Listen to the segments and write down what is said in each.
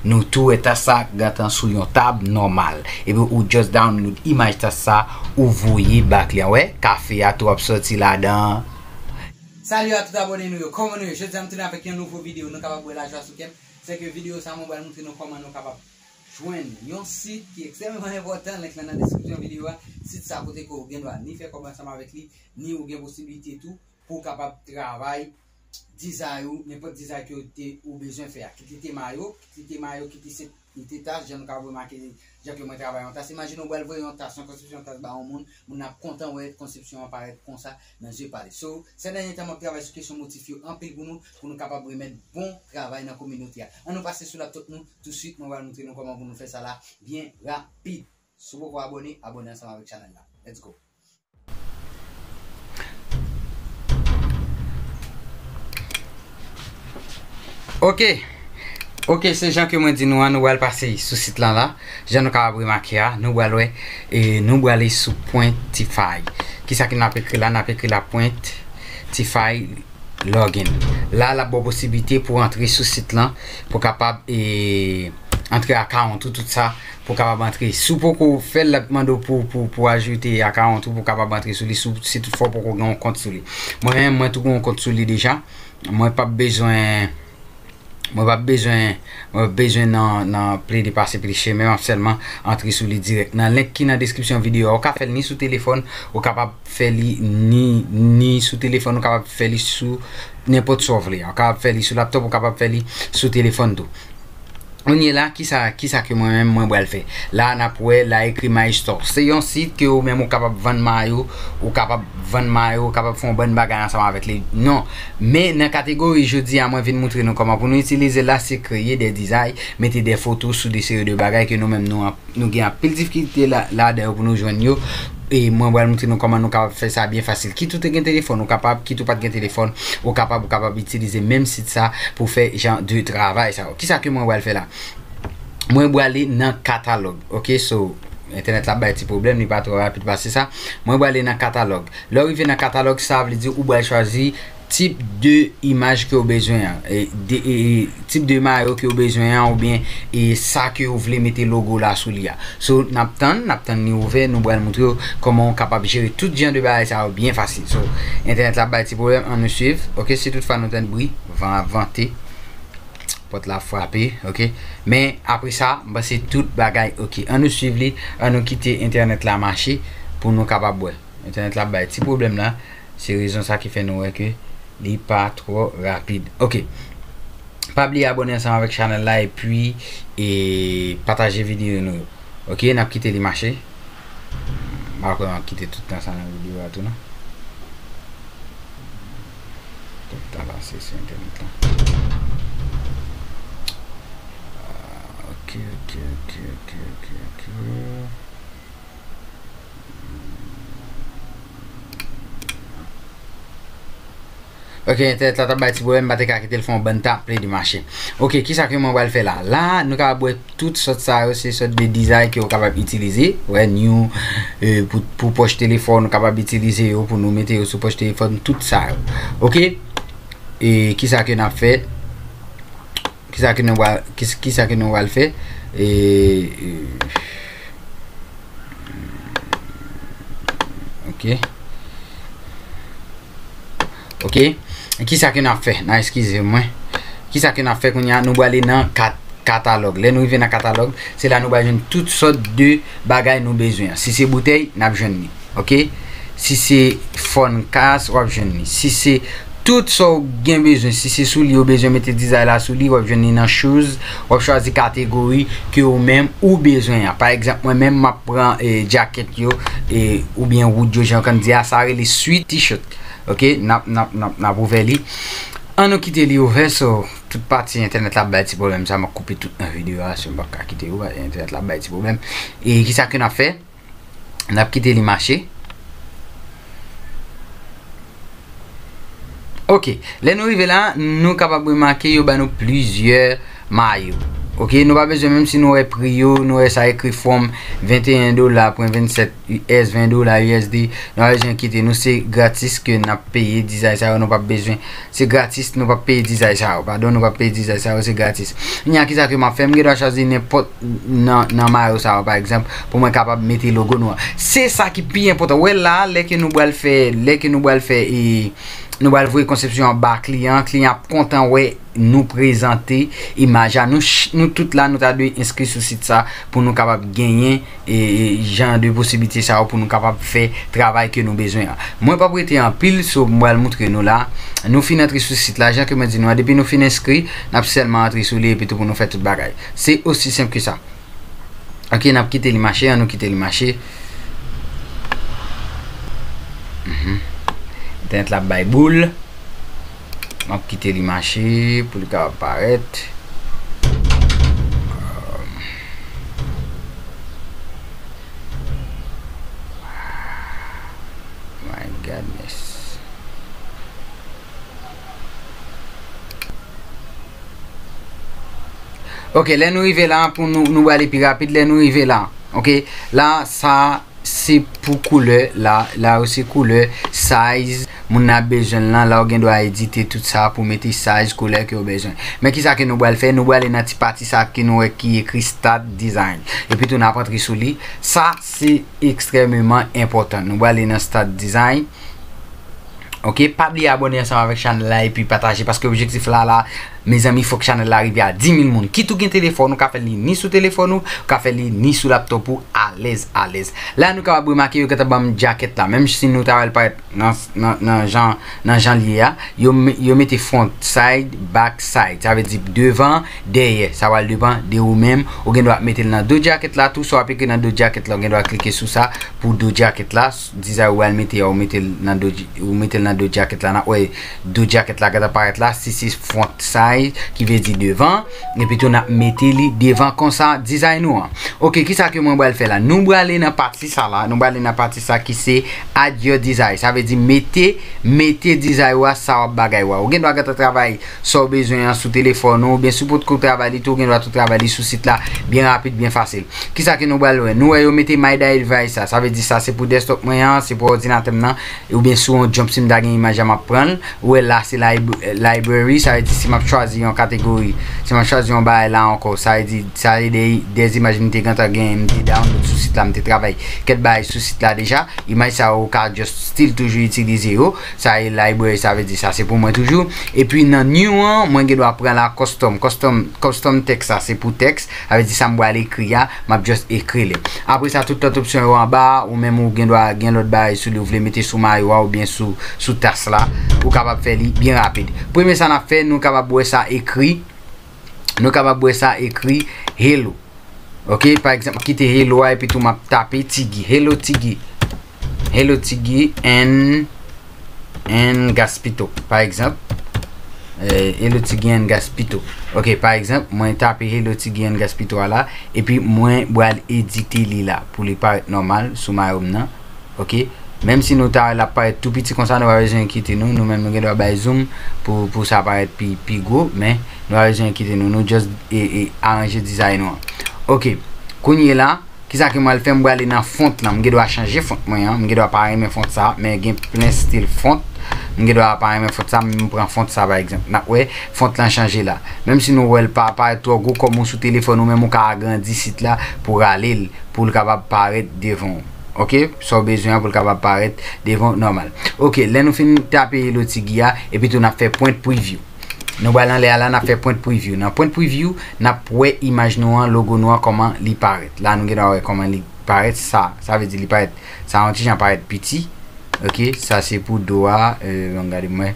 Nou tou wè tas sa gentan sou yon tab nòmal epi ou just download imaj tas sa ou voye ba kliyan wè kafe a tou ap sòti ladan. Salut a tout abone nou yo, kòman nou ye? Jodi a m tounen avèk yon nouvo video nou kapab wè lajwa sou kèm, se ke video sa mwen pral moutre nou kòman nou kapab jwenn yon sit ki ekstrèmeman enpòtan, link lan nan deskripsyon video a, sit sa kote ke ou gen dwa ni fè kòb ansanm avèk li, ni ou gen posibilite tou pou w kapab travay dizay ou, nenpòt dizay ke ou te ou bezwen fè a. Kit li te mayo, kit li te mayo, kit li se li te tas, jan nou kapab remake jan ke mwen travay yon tas. Imajine ou bral voye yon tas, yon konsepsyon tas ba yon moun, moun nan ap kontan wè konsepsyon an parèt konsa nan zye pa li. So, sè dènye tan map travay sou kesyon motif yo anpil pou nou, pou nou kapab remèt bon travay nan kominote a. An nou pase sou laptop nou touswit, mwen bral montre nou kòman pou nou fè sa la byen rapid. Si w poko abòne, abòne ansanm avèk chanèl la. Let's go! Ok, ok se jan ke mwen di nou an nou wèl pase sou sit lan la Jan nou ka ap remake a nou wèl wè e nou wèl li sou pointify Kisa ki nap ekri la nap ekri la pointify login La lap bo posibilite pou antre sou sit lan pou kapab e antre akawont ou tout sa Pou kapab antre. Si w poko fè l, l ap mande w pou pou pou ajoute akawont ou pou kapab antre sou li si w si tout fwa w poko gen yon kont sou li. Mwen menm mwen tou gen yon kont sou li deja. Mwen pap bezwen mwen pap bezwen mwen pap bezwen nan nan plede pase plis chemen. M ap sèlman antre sou li dirèk nan link ki nan deskripsyon videyo a. Ou ka fè l ni sou telefòn, ou kapab fè li ni ni sou telefòn, ou kapab fè li sou nenpòt sa w vle. Ou kapab fè li sou laptop, ou kapab fè li sou telefòn tou. Kounye la kisa kisa ke mwen menm mwen bral fè. La a nap wè la ekri my store. Se yon sit ke ou menm ou kapab vann mayo, ou kapab vann mayo, ou kapab fè yon bann bagay ansanm avèk li. Non. Men nan kategori jodi a mwen vin moutre nou kòman pou nou itilize la se kreye de dizay, mete de foto sou de seri de bagay ke nou menm nou an. Nou gen anpil difikilte ladan yo pou nou jwenn yo e mwen pral moutre nou kòman nou kapab fè sa byen fasil. Kit ou te gen telefòn ou kapab, kit ou pat gen telefòn ou kapab ou kapab itilize menm sit sa pou fè jan de travay sa yo. Kisa ke mwen pral fè la? Mwen brale nan katalòg ok so entènèt la ap bay ti pwoblèm li pa twò rapid pase sa. Mwen brale nan katalòg lè ou rive nan katalòg sa vle di ou bal chwazi. Tip de imaj ke ou bezwen an, tip de mayo ke ou bezwen an oubyen sa ke ou vle mete logo la sou li a. So nap tann, nap tann li ouvè nou pral moutre ou kòman ou kapab jere tout jan de bagay sa yo byen fasil. So entènèt la ap bay ti pwoblèm an nou swiv ok si tout fwa nou tande bri van ap vante pòt la ap frape ok men apre sa m panse tout bagay ok an nou swiv li an nou kite entènèt la mache pou nou kapab wè entènèt la ap bay ti pwoblèm la. Se rezon sa ki fè nou wè ke li pa twò rapid. Ok. Pa bliye abone ansanm avèk chanèl la epi e pataje videyo nou yo. Ok, n ap kite li mache. M pa kwè m ap kite tout tan sa nan videyo a tou non. Tout tan pase sou entènèt la. Ok, ok, ok, ok, ok, ok. Ok, entèt la tap bay ti pwoblèm, m pa te ka kite l fè yon bann tan, play de mache. Ok, kisa ke mwen pral fè la? La, nou kapab wè tout sòt sa yo, se sòt de dizay ke ou kapab itilize. Wè, new, euh, pou, pou pòch telefòn, nou kapab itilize yo pou nou mete yo sou pòch telefòn, tout sa yo. Ok? E, kisa ke nap fè? Kisa ke nou va, kisa ke nou val fè? Oke. Oke. Kisa ke nap fè? Nan eskize mwen. Kisa ke nap fè kounye a? Nou va ale nan kat, katalòg. Lè nou rive nan katalòg, se la nou va jwenn tout sòt de bagay nou bezwen. Si se boutèy, nap jwenn li. ok si se fòn kas wap jwenn li si se tout sa ou gen bezwen si se souli ou bezwen mete dizay la souli wap jwenn li nan shoes wap chwazi kategori ke ou menm ou bezwen an pa egzanp mwen menm map pran e jacket yo e ou byen wood yo jan kan di a sa rele sweat t-shirt ok nap nap nap nap ouvè li an nou kite li ouvè so tout pati entènèt la bay ti problem sa map koupe tout nan video a si mwen pa ka kite ou entènèt la bay ti problem e ki sa ke nap fè N ap kite li mache. Ok, lè nou rive la, nou kapab remake yo ba nou plizyè mayo. Ok, nou pa bezwen menm si nou wè pri yo, nou wè sa ekri from 21 dola pwen 27 US, 20 dola USD, nou pa bezwen enkete nou, se gratis ke n ap peye dizay sa yo, nou pa bezwen, se gratis nou pa peye dizay sa yo, padon nou pa peye dizay sa yo, se gratis. Kounya kisa ke m ap fè, m gen dwa chwazi nenpòt. nan mayo sa yo pa egzanp pou mwen kapab mete logo nou an se sa ki pi enpotan wè la lè ke nou bal fè lè ke nou bal fè e nou bal voye konsepsyon an ba kliyan kliyan ap kontan wè nou prezante imaj a nou tout la nou ta dwe enskri sou sit sa pou nou kapab genyen e jan de posiblite sa yo pou nou kapab fè travay ke nou bezwen an mwen pap rete anpil sou mwen bal moutre nou la nou fin antre sou sit la jan ke mwen di nou an depi nou fin enskri nap sèlman antre sou li epi tou pou nou fè tout bagay. Se osi senp ke sa. Ok nap kite li mache an nou kite li mache entènèt la ap bay boul map kite li mache pou li kapab parèt my Godness. Ok, lè nou rive la, pou nou, nou wale pi rapid, lè nou rive la, ok, la, sa, se pou koule, la, la ou se koule, size, moun nan bejen lan, la ou gen do a edite tout sa, pou mete size, koule ke ou bejen. Men ki sa ke nou wale fè, nou wale nan ti pati sa ki nou wè ki ekri start design. E pi tou nan ap antre sou li, sa se ekstrememan enpotan. Nou wale nan start design. Ok pa bliye abone ansanm avèk chanèl la epi pataje paske objektif la la mezanmi fòk chanèl la rive a 10000 moun kit ou gen telefòn ou ka fèl li ni sou telefòn ou ou ka fèl li ni sou laptop ou alèz alèz la nou kapab remake yo gentan banm djakèt la menm si nou ta wèl parèt nan jan nan janl ye a yo mete front side back side sa vle di devan dèyè sa pral depan de ou menm ou gendwa metel nan do djakèt la tou sa wap ekri nan do djakèt la ou gendwa klike sou sa pou do djakèt la. Dizay ou bal mete a ou metel nan do ou metel nan do jacket la nap wè do jacket la gentan parèt la si se front size ki vle di devan epi tou nap mete li devan konsa dizay nou an ok kisa ke mwen bal fè la nou brale nan pati sa la nou brale nan pati sa ki se add your dizay sa vle di mete mete dizay ou a sa wap bagay ou a ou gendwa gentan travay sa ou bezwen an sou telefòn ou oubyen si ou potko travay li tou ou gen dwa tou travay li sou sit la byen rapid byen fasil kisa ke nou pral wè nou wè yo mete my daidvice sa sa vle di sa se pou desktop mwen an se pou òdinatè m nan oubyen sou yon jump si m ta gen imaj la m ap pran l ou wè la se library sa vle di si m ap chwazi yon kategori si m ap chwazi yon bagay la ankò sa vle di sa se de imaj m te gentan gen m te download sou sit la m te travay kèk bagay sou sit la deja imaj sa yo ou ka just still toujou itilize yo. Sa e library sa vle di sa se pou mwen toujou epi nan new an mwen gen dwa pran la custom custom custom text sa se pou text sa vle di sa m pral ekri a map just ekri li apre sa tout lòt opsyon yo anba a ou menm ou gen dwa gen lòt bagay sou li ou vle mete sou mayo a oubyen sou sou tas la ou kapab fè li byen rapid premye sa nap fè nou kapab wè sa ekri nou kapab wè sa ekri hello ok pa egzanp kite hello a epi tou map tape tigi hello tigi Hello Ti Guy and Gaspito pa egzanp Hello Ti Guy and Gaspito ok pa egzanp mwen tape Hello Ti Guy and Gaspito a la epi mwen bral edite li la pou li parèt nòmal sou mayo m nan ok menm si nou ta wè l ap parèt tou piti konsa nou pa bezwen enkiyete nou nou menm nou gen dwa bay zoom pou sa parèt pi gwo men nou pa bezwen enkiyete nou nou just aranje dizay nou an ok kounyela Kisa ke mwal fè m brale nan font lan m gen dwa chanje font mwen an m gen dwa pa renmen font sa men gen plen stil font m gen dwa pa renmen font sa men m pran font sa pa egzanp nap wè font lan chanje la menm si nou wèl pa parèt twò gwo kòm ou sou telefòn ou menm ou ka agrandi sit la pou rale l pou l kapab parèt devan w ok sa w bezwen an pou l kapab parèt devan w nòmal ok lè nou fin tape lotigi a epi tou nap fè print preview. Nou bal anlè a la nap fè print preview nan print preview nap wè imaj nou an logo nou an kòman li parèt la nou gen dwa wè kòman li parèt sa sa vle di li parèt sa yon ti jan parèt piti ok sa se pou do a yon euh, gade mwen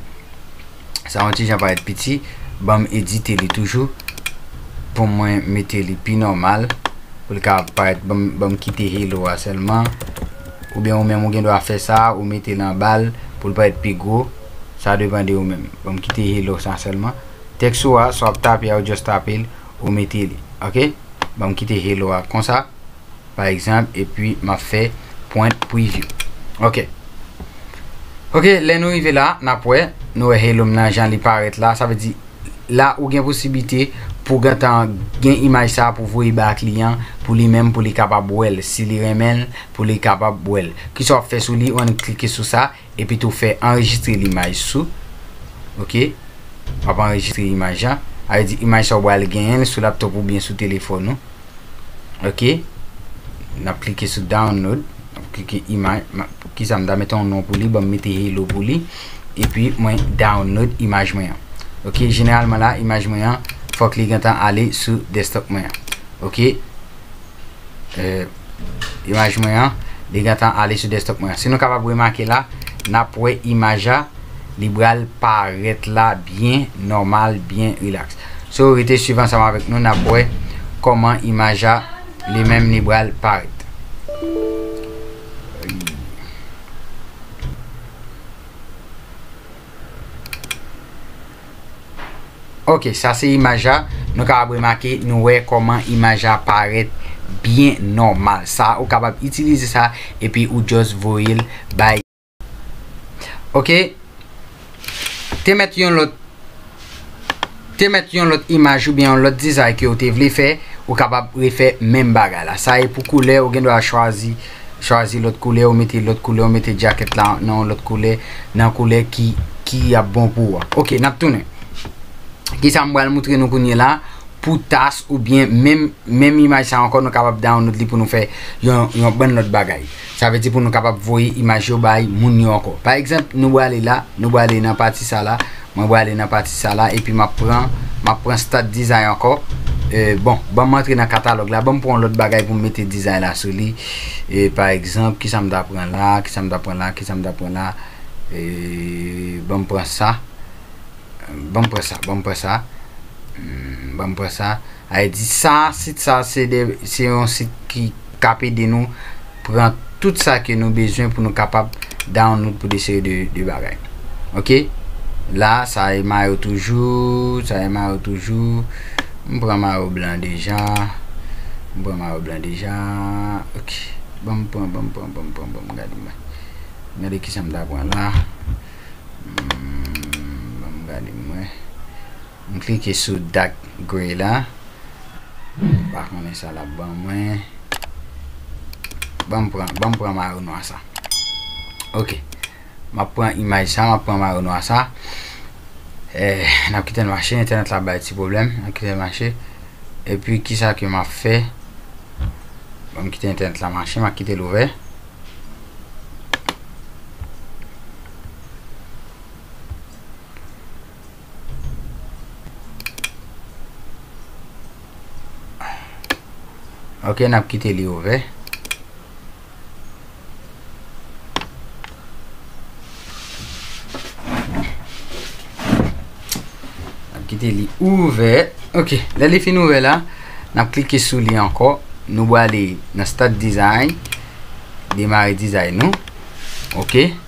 sa yon ti jan parèt piti banm edite li toujou pou mwen mete li pi normal pou li ka parèt banm banm kite hello a sèlman ou bien ou menm ou gen dwa fè sa ou mete lan bal pou li parèt pi gwo Sa depan de ou menm. Banm kite hello sa selman. Text ou a, sa wap tape a ou just tape l, ou mete li. Ok? Banm kite hello a konsa. Pa egzanp, epi map fè print preview. Ok. Ok, lè nou rive la, nap wè. Nou wè hello m nan jan li parèt la. Sa vle di, la ou gen posiblite pou gentan gen imaj sa pou voye ba kliyan pou li menm pou li kapab wè l. Si li renmen l, pou li kapab wè l. Kisa wap fè sou li, ou annik klike sou sa. epi tou fè anrejistre limaj sou ok wap anrejistre imaj la avè di imaj sa ou bal genyenl sou laptop ou byen sou telefòn ou ok nap klike sou download nap klike imaj pou kisa m ta mete yon non pou li banm mete hello pou li epi mwen download imaj mwen an ok jeneralman la imaj mwen an fòk li gentan ale sou desktop mwen an ok eee euh, Imaj mwen an li gentan ale sou desktop mwen an. Si nou kapab remake la, n ap wè imaj a li bral parèt la byen nòmal, byen rilaks. So rete swiv ansanm avèk nou n ap wè kòman imaj a li menm li bral parèt. Ok sa se imaj la nou kapab remake nou wè kòman imaj la parèt byen nòmal sa ou kapab itilize sa epi ou just voye l bay ok te mèt yon lòt te mèt yon lòt imaj oubyen yon lòt dizay ke ou te vle fè ou kapab refè menm bagay la sa e pou koulè ou gen dwa chwazi Chwazi lòt koulè ou mete lòt koulè ou mete djakèt la nan yon lòt koulè nan koulè ki ki ap bon pou ou a ok nap tounen kisa m pral moutre nou kounye la pou tas oubyen menm menm imaj sa ankò nou kapab download li pou nou fè yon yon bann lòt bagay sa vle di pou nou kapab voye imaj yo bay moun yo ankò pa egzanp nou brale la nou brale nan pati sa la Mwen brale nan pati sa la epi map pran map pran start design ankò e bon banm antre nan katalòg la banm pran yon lòt bagay poum mete design la sou li e pa egzanp kisam ta pran la kisam ta pran la kisam ta pran la e banm pran sa banm pran sa banm pran sa banm pran sa. Ayiti sa, sit sa se de se yon sit ki k ap ede nou pran tout sa ke nou bezwen pou nou kapab download pou de seri de de bagay ok la sa e mayo toujou sa e mayo toujou m pran mayo blan deja m pran mayo blan deja ok ban m pran ban m pran ban m pran ban m gade mwen gade kisa m ta pran la hmm ban m gade mwen M klike sou dark grey la. M pa konnen sa lap ban mwen. Banm pran, banm pran mayo nwa sa. Ok. Map pran imaj sa, map pran mayo nwa sa. Eh, nap kitel mache, entènèt la bay ti pwoblèm. Nap kitel mache. E pi kisa ke map fè? Banm kite entènèt la mache, map kitel ouvè. Ok n ap kite li ouvè. Kite li ouvè. Ok, lè li fin ouvè la, n ap klike sou li ankò. Nou wale nan Start Design. Demare dizay nou. Ok.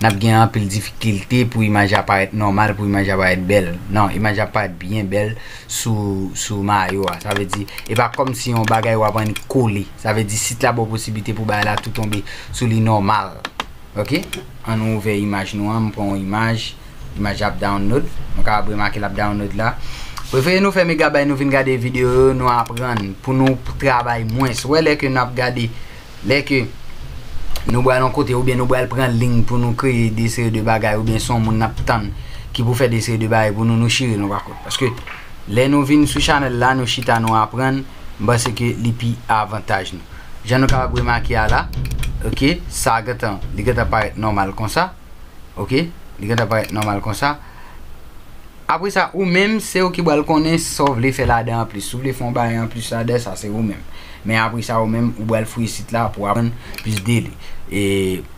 n ap gen anpil difikilte pou imaj la parèt nòmal, pou imaj la parèt bèl. Non, imaj la ap parèt byen bèl sou mayo a. Sa vle di, e pa kòm si yon bagay w ap annik kole. Sa vle di, sit la ba w posiblite pou bagay la tou tonbe sou li nòmal. Ok. An nou ouvè imaj nou an. M pran yon imaj. Imaj la ap download. Nou kapab remake l ap download la. Prefere nou fè megabay nou vin gade videyo yo, nou aprann pou nou travay mwens. Ou wè lè ke n ap gade Lè ke Nou bral yon kote oubyen Nou bral pran ling pou Nou kreye de seri de bagay oubyen son moun nap tann ki pou fè de seri de bagay pou Nou Nou chire Nou pa kont paske lè Nou vin sou chanèl la Nou chita Nou aprann m panse ke li pi avantaj Nou jan Nou kapab remake a la ok sa gentan li gentan parèt nòmal konsa ok li gentan parèt nòmal konsa. Apre sa ou menm se ou ki pral konnen sa w vle fè ladan an plis. Si w vle fè yon bagay an plis ladan sa se ou menm. Men apre sa ou menm ou pral fouye sit la pou w aprann plis de li. E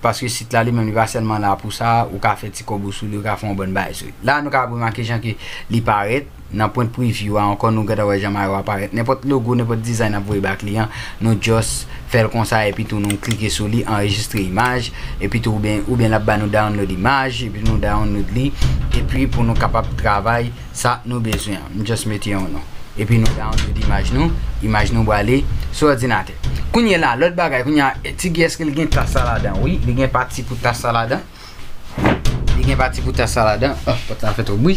paske sit la li menm li pa sèlman la pou sa, ou ka fè ti kòb ou sou li, ou ka fè yon bann bagay sou li. La nou kapab remake jan ke li parèt nan print preview a ankò nou gentan wè jan mayo a parèt. Nenpòt logo, nenpòt design n ap voye ba kliyan, nou just fèl konsa epi tou nou klike sou li anrejistre imaj epi tou oubyen oubyen lap ba nou download imaj epi nou download li epi pou nou kapab travay sa nou bezwen an m just mete yon non epi nou download imaj nou imaj nou brale sou òdinatè kounyela lòt bagay kounyea ti giyès ke li gen tas sa ladan wi li gen pati pou tas sa ladan. Li gen pati pou tas la ladan. Oh, pòt la ap fè twòp bri.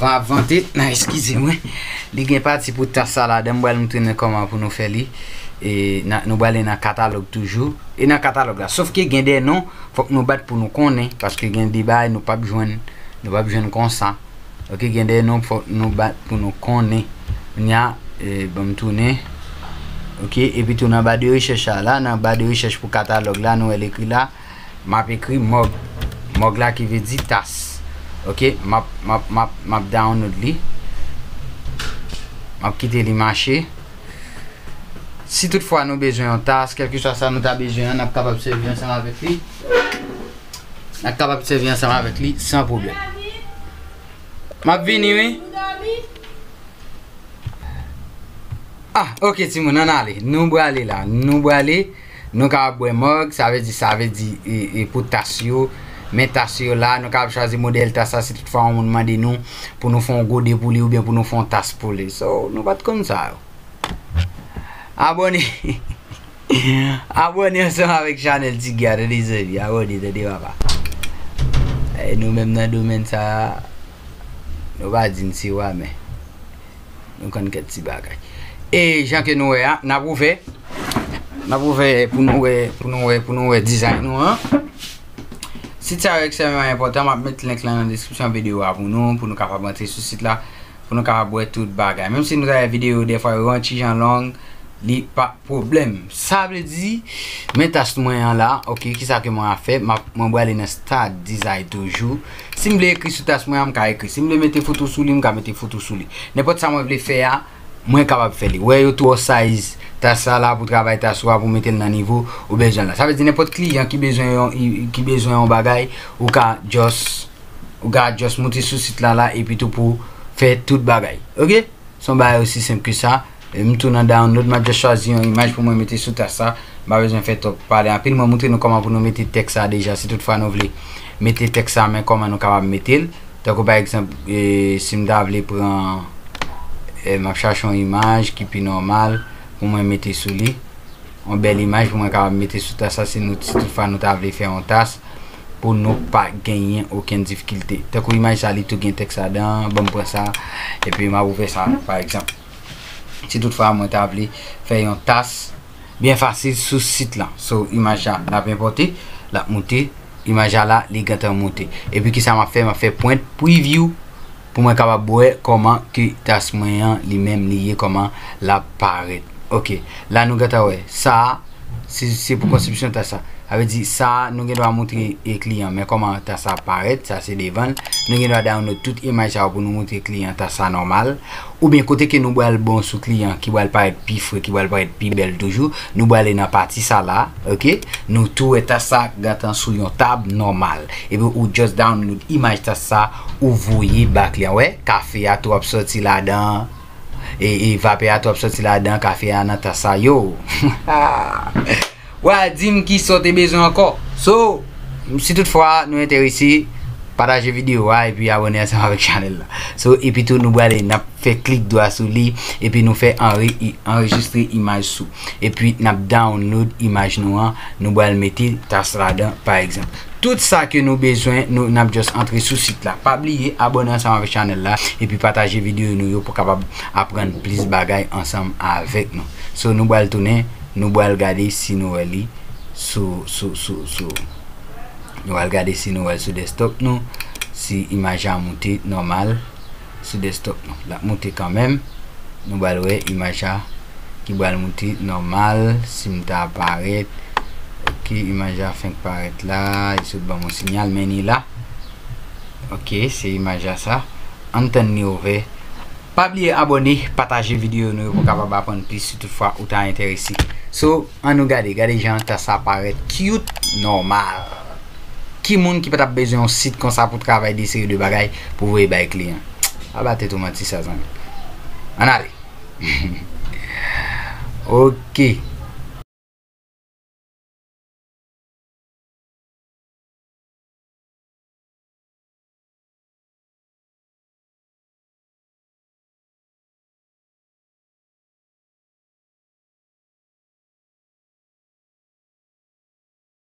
Van ap vante. Nan, eskize mwen. Li gen pati pou tas la ladan. M bral montre nou kòman pou nou fè li. E nou bral nan katalòg toujou. E nan katalòg la. Sof ke gen de non fòk nou bat pou nou konnen. Paske gen de bay nou pap jwenn. Nou pap jwenn konsa. Ok gen de non fòk nou bat pou nou konnen nya e banm tounen ok epi tou nan ba de rechèch a la nan ba de rechèch pou katalòg la nou el ekri la map ekri mòg mòg la ki ve di tas ok map map map map download li map kite li mache si tout fwa nou bezwen yon tas kelke swa sa nou ta bezwen an nap kapab sèvi ansanm avèk li Nan kapab sèvi ansanm avèk li san pwoblèm. M ap vini wi. Ah, ok timoun, ann ale. Nou brale la. Nou brale. Nou kapab bwè mòg. Sa vle di, sa vle di pou tas yo. Men tas yo la. Nou kapab chwazi modèl tas la si tout fwa yon moun mande nou pou nou fè yon gode pou li oubyen pou nou fè yon tas pou li. So, nou pa t konn sa yo. Abòne. Abone ansanm avèk chanèl ti guy a tande zanmi abone tande papa e nou menm nan domèn sa nou pa di n se wa men nou konn kèk ti bagay e jan ke nou wè a n ap ouvè n ap ouvè pou nou wè pou nou wè pou nou wè dizay nou an sit sa yo ekstrèmeman enpòtan m ap met link lan nan deskripsyon videyo a pou nou pou nou kapab antre sou sit la pou nou kapab wè tout bagay menm si nou ta wè videyo yo dèfwa yo yon ti jan long li pa pwoblèm sa vle di men task mwen an la ok kisa ke mwen a fè mwen brale nan start dizay toujou si m vle ekri sou task mwen an m ka ekri si m vle mete foto sou li m ka mete foto sou li nenpòt sa mwen vle fè a mwen kapab fè li wè yo twò size task sa la pou travay task ou a pou mete l nan nivo ou bezwen l la sa vle di nenpòt kliyan ki bezwen yon ki bezwen yon bagay ou ka just. ou ka just moute sou sit la la epitou pou fè tout bagay ok se yon bagay osi senp ke sa m tou nan download m ap just chwazi yon imaj pou mwen mete sou tas la m pa bezwen fè twòp pale anpil mwen moutre nou kòman pou nou mete tèks sa deja si tout fwa nou vle mete tèks sa men kòman nou kapab mete l tankou pa egzanp si m ta vle pran m ap chache yon imaj ki pi nòmal pou mwen mete sou li yon bèl imaj pou mwen kapab mete sou tas la si tout fwa nou ta vle fè yon tas pou nou pa genyen okenn difikilte. Tankou imaj sa li tou gen tèks ladan, ban m pran sa, epi m ap ouvè sa pa egzanp. Si tout fwa mwen ta vle fè yon tas byen fasil sou sit lan. So imaj sa n ap enpòte, l ap moute, imaj la la li gentan moute. Epi ki sa m ap fè, m ap fè print preview. Pou mwen kapab wè kòman ke tas mwen an li menm li ye kòman lap parèt ok la nou gentan wè sa a se pou konsepsyon tas la sa vle di sa a nou gen dwa moutre kliyan men kòman tas la ap parèt sa se devan l nou gen dwa download tout imaj sa yo pou nou moutre kliyan tas la nòmal oubyen kote ke nou bal bon sou kliyan ki bal parèt pi fre ki bal parèt pi bèl toujou nou bale nan pati sa la ok nou tou wè tas la gentan sou yon tab nòmal epi ou just download imaj tas sa. Ou voye bak li an wè kafe a trop soti ladan e e vapè a trop soti ladan kafe a nan tas la yoo hahahaa wa dim kisaw te bezwen ankò so si tout fwa nou enterese pataje video a epi abone ansanm avèk chanèl la so epi tou nou brale nap fè klik dwa sou li epi nou fè anre anrejistre imaj sou epi nap download imaj nou an nou bal mete tas ladan pa egzanp. Tout sa ke nou bezwen nou nap just antre sou sit la. Pa bliye abone ansanm avèk chanèl la epi pataje video nou yo pou kapab aprann plis bagay ansanm avèk nou. So nou bal tounen nou bal gade si nou wè li sou sou sou sou nou al gade si nou wèl sou desktop nou si imaj la moute nòmal. sou desktop nou lap moute kanmenm nou bal wè imaj la ki bal moute nòmal sim ta parèt ok imaj la fenk parèt la li sot banm yon sinyal men li la ok se imaj la sa an tann li ouvè pa bliye abòne pataje videyo nou pou kapab aprann plis si tout fwa ou ta enterese so an nou gade gade jan tas la parèt cute nòmal. Ki moun ki pa tap bezwen yon sit konsa pou travay de seri de bagay pou voye bay kliyan. Pa ba tèt ou manti sa zanmi. Ann ale. Ok.